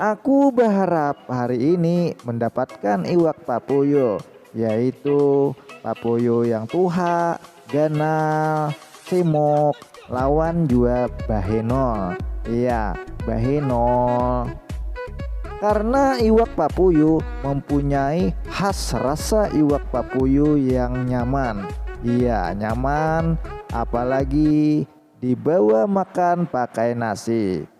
Aku baharap hari ini mendapatkan iwak papuyu, yaitu papuyu yang tuha, ganal, simuk, lawan jua bahenol. Iya, bahenol. Karna iwak papuyu mempunyai khas rasa iwak papuyu yang nyaman. Iya, nyaman, apalagi dibawa makan pakai nasi.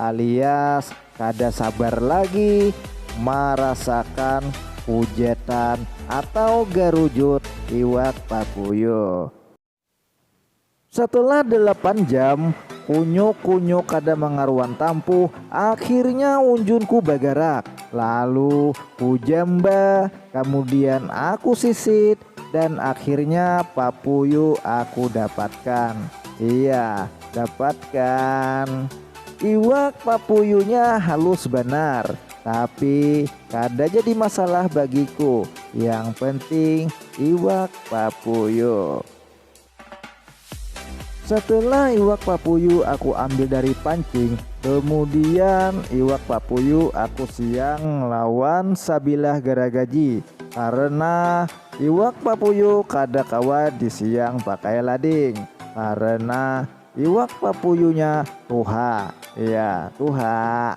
alias kada sabar lagi marasakan hujetan atau garujut iwak paguyuh. Setelah delapan jam, kunyuk-kunyuk kada mangaruan tampu, akhirnya unjunku bagarak. Lalu kujamba, kamudian aku sisit, Dan akhirnya papuyu aku dapatkan. Iya, dapatkan. Iwak papuyunya halus banar, tapi kada jadi masalah bagiku, yang penting iwak papuyu. Setelah iwak papuyu aku ambil dari pancing, kemudian iwak papuyu aku siang lawan sabilah garagaji karena iwak papuyu kada kawa disiang pakai lading karena iwak papuyunya tuha, iya tuha.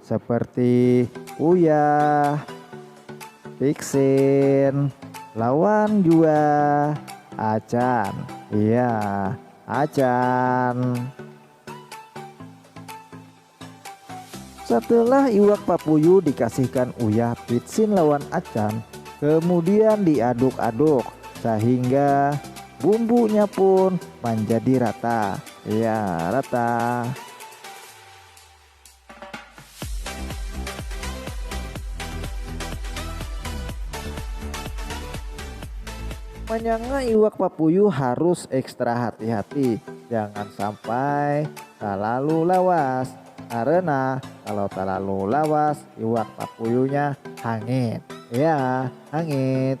seperti Uyah, Pixin, lawan jua Acan. Iya, Acan. Setelah iwak papuyu dikasihkan Uyah, Pixin lawan Acan, kemudian diaduk-aduk sehingga bumbunya pun menjadi rata. Iya, rata. Manyanga iwak papuyu harus ekstra hati-hati jangan sampai talalu lawas karena kalau talalu lawas iwak papuyunya hangit ya hangit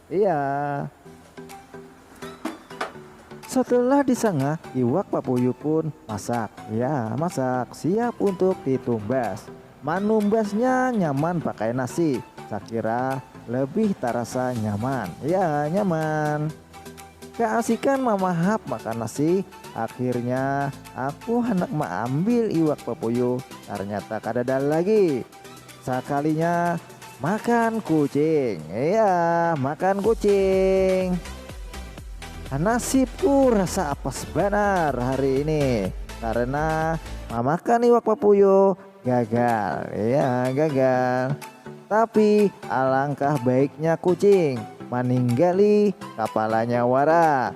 Iya. Setelah disanga, iwak papuyu pun masak. Iya, masak, siap untuk ditumbas. Manumbasnya nyaman pakai nasi, sakira lebih tarasa nyaman. Iya, nyaman. Kaasikan mamahap makan nasi, akhirnya aku handak maambil iwak papuyu, tarnyata kadada lagi. Sakalinya makan kucing iya makan kucing nasibku rasa apes banar hari ini karena mamakan iwak papuyo gagal iya gagal tapi alangkah baiknya kucing maninggali kapalanya wara